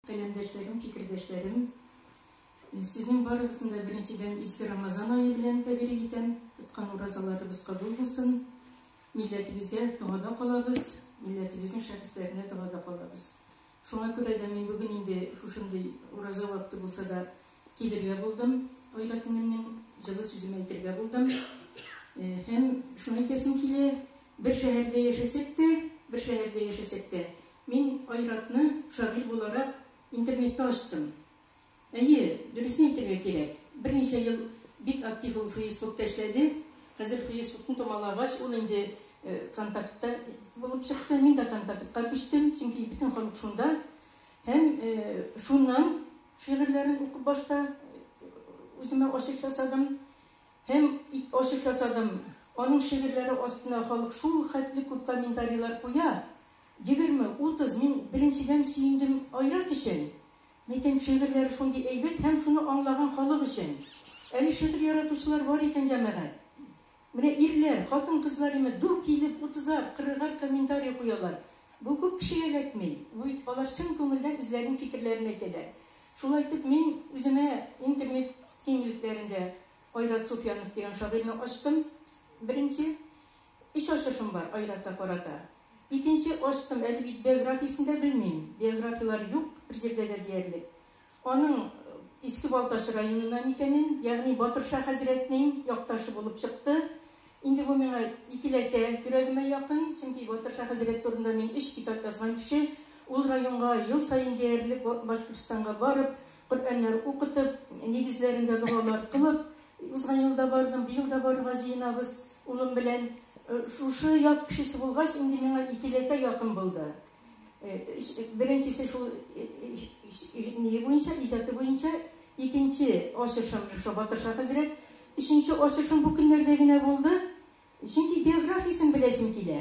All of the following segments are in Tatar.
Каләмдәшләрем, фикердәшләрем! Сезнең барыгызны да беренчедән изге Рамазан ае белән тәбрик итәм. Тоткан уразаларыбыз кабул булсын. Милләтебезгә догада калабыз, милләтебезнең шәхесләренә догада калабыз. Шуңа күрә дә мин бүген инде шушындый ураза вакыты булса да Килергә булдым, Айратинемнең җылы сүзен әйтергә булдым. Һәм шуны әйтәсем килә, бер шәһәрдә яшәсәк тә, бер шәһәрдә яшәсәк тә, мин Айратны шагыйрь буларак интернетта ачтым. Әйе, дөресен әйтергә кирәк, берничә ел бик актив ул Фейсбукта эшләде. Хәзер Фейсбукны томалагач, ул инде Контактта булып чыкты. Мин дә Контактка күчтем, чөнки бөтен халык шунда. Һәм шуннан Шигырьләрен укып башта үземә ачыф ясадым һәм ачыф ясадым. Аның шигырьләре астына халык шул хәтле күп комментарийлар куя, егерме, утыз, мин беренчедән сөендем Айрат өчен, мәйтәм шигырьләре шундый әйбәт һәм шуны аңлаган халык өчен. Әле шигырь яратучылар бар икән, җәмәгать. Менә ирләр, хатын-кызлар имет дүрт килеп, утызар, кырыгар комментарий куялар. Бу күп кешегә эләкми. Бу бит алар чын күңелдән үзләренең фикерләрен әйтәләр. Шулай итеп, мин үземә интернет киңлекләрендә Айрат Суфьянов дигән шагыйрьне ачтым, беренче. Өч ачышым бар Айратка карата. Икенче ачтым, әле бит биографиясен дә белмим. Биографияләр юк берҗирдә дә диярлек. Аның Иске Балтач районыннан икәнен, ягъни Батырша хәзрәтнең якташы булып чыкты. Инде бу миңа икеләтә йөрәгемә якын, чөнки Батырша хәзрәт турында мин өч китап язган кеше. Ул районга ел саен диярлек Башкортстанга барып, Коръәннәр укытып, нигезләрендә догалар кылып, узган ел да бардым, быел да барырга җыенабыз улым белән. Шушы як кешесе булгач, инде миңа икеләтә якын булды. Беренчесе шул ние буенча, иҗаты буенча, икенче ачышым шушы Батырша хәзрәт. Өченче ачышым бу көннәрдә генә булды. Чөнки биографиясен беләсем килә.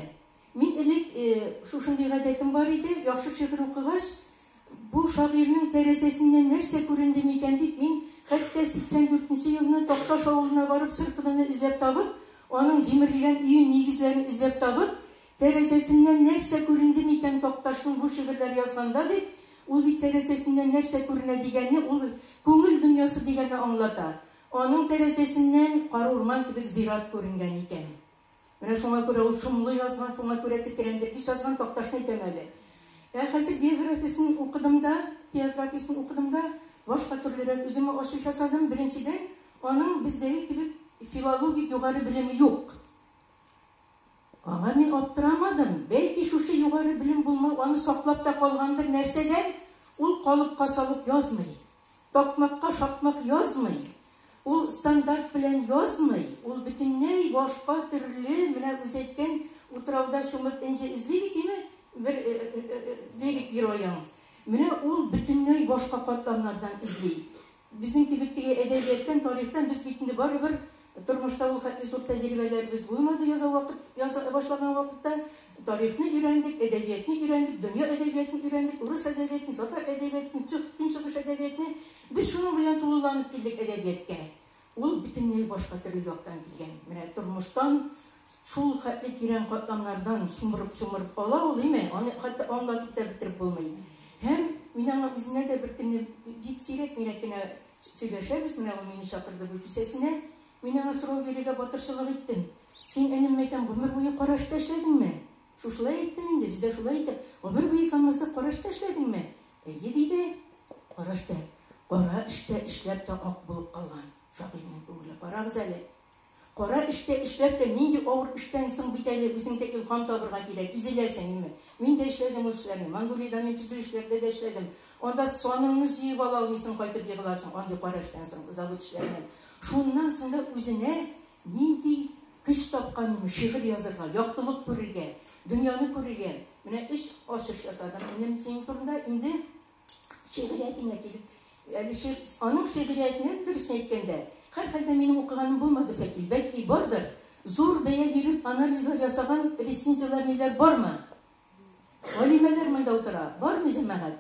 Мин элек шушындый гадәтем бар иде, яхшы шигырь укыгач, бу шагыйрьнең тәрәзәсеннән нәрсә күренде микән дип, мин хәтта 84 нче елны Такташ авылына барып, сыркыдыны эзләп табып, аның җимерелгән өен нигезләрен эзләп табып, Тәрәзәсеннән нәрсә күренде микән Такташның бу шигырьләр язганда дип, ул бит тәрәзәсеннән нәрсә күренә дигәне ул күңел дөньясы дигәнне аңлата. Аның тәрәзәсеннән кар урман кебек зират күренгән икән. Менә шуңа күрә ул шомлы язган, шуңа күрә тетрәндер ис язган Такташны әйтәм әле. Ә хәзер биографиясен укыдым да, биографиясен укыдым да, башка төрлерәк үземә ачыш ясадым. Беренчедән, аның бездәге кебек филологик югары белеме юк. Аңа мин аптырамадым. Бәлки, шушы югары белем булмау аны саклап та калгандыр нәрсәдән, ул калыпка салып язмый, такмакка шакмак язмый, ул стандарт белән язмый, ул бөтенләй башка төрле, менә үзе әйткән, утрауда чумып энҗе эзли бит, име, бер лирик героең. Менә ул бөтенләй башка катламнардан эзли. Безнең кибеттәге әдәбияттан, тарихтан без бит инде барыбер тормышта ул хәтле зур тәҗрибәләребез булмады, яза вакыт, яза башлаган вакытта. Тарихны өйрәндек, әдәбиятны өйрәндек, дөнья әдәбиятын өйрәндек, урыс әдәбиятын, татар әдәбиятын, цюх, көнчыгыш әдәбиятны. Без шуның белән тулыланып килдек әдәбияткә. Ул бөтенләй башка төрле яктан килгән. Менә тормыштан. Шул хәтле тирән катламнардан чумырып-чумырып ала ул, име, аны хәтта аңлатып та бетереп булмый. Һәм мин аңа үзенә дә беркөнне, бик сирәк-мирәк кенә сөйләшәбез, менә ул мине чакырды бу кичәсенә, мин аңа сорау бирергә батырчылык иттем, Син, энем, мәйтәм, гомер буе караш та эшләдеңме? Шушылай әйттем инде, бездә шулай әйтә, Гомер буе танмаслык караш та эшләдеңме? Әйе, диде. Караш та, кара эш тә эшләп тә ак булып калган шагыйрьнең күңеле. Карагыз әле. Кара эштә эшләп тә нинди авыр эштән соң бит әле үзең дә илһам табырга кирәк, изеләсең име. Мин дә эшләдем ул эшләрне. Монголиядә мин төзелешләрдә дә эшләдем. Анда саныңны җыеп ала алмыйсың, кайтып егыласың андый кара эштән соң, завод эшләреннән. Шуннан соң да үзенә нинди көч тапканым, шигырь язырга, яктылык күрергә, дөньяны күрергә. Менә өч ачыш ясадым, энем, синең турында. Инде. Шигъриятеңә килеп, әле ши- аның шигъриятенә дөресен әйткәндә, һәрхәлдә минем укыганым булмады, Фәтил, бәлки бардыр? Зур бәя биреп анализлар ясаган рецензияләрниләр бармы? Галимәләр монда утыра, бармы, җәмәгать?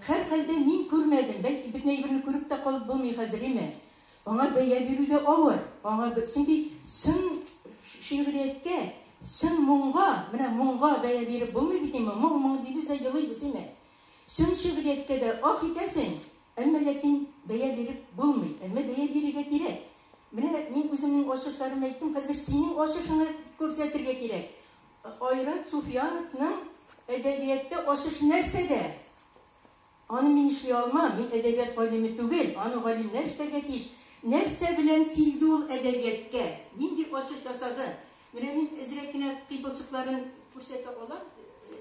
Һәрхәлдә мин күрмәдем, бәлки бөтен әйберне күреп тә калып булмый хәзериме? Аңа бәя бирү дә авыр, аңа б- чөнки чын ш- шигърияткә, чын моңга, менә моңга бәя биреп булмый бит инде, моң-моң дибез дә елыйбыз, име? Чын шигърияткә дә ах итәсең, әмма ләкин бәя биреп булмый. Әмма бәя бирергә кирәк. Менә мин үземнең ачышларым әйттем, хәзер синең ачышыңны күрсәтергә кирәк. Айрат Суфияновның әдәбиятта ачышы нәрсәдә? Аны мин эшли алмам, мин әдәбият галиме түгел, аны галимнәр эшләргә тиеш. Нәрсә белән килде ул әдәбияткә? Нинди ачыш ясады? Менә мин әзрәк кенә кыйпылчыкларын күрсәтә алам,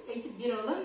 әйтеп бирә алам.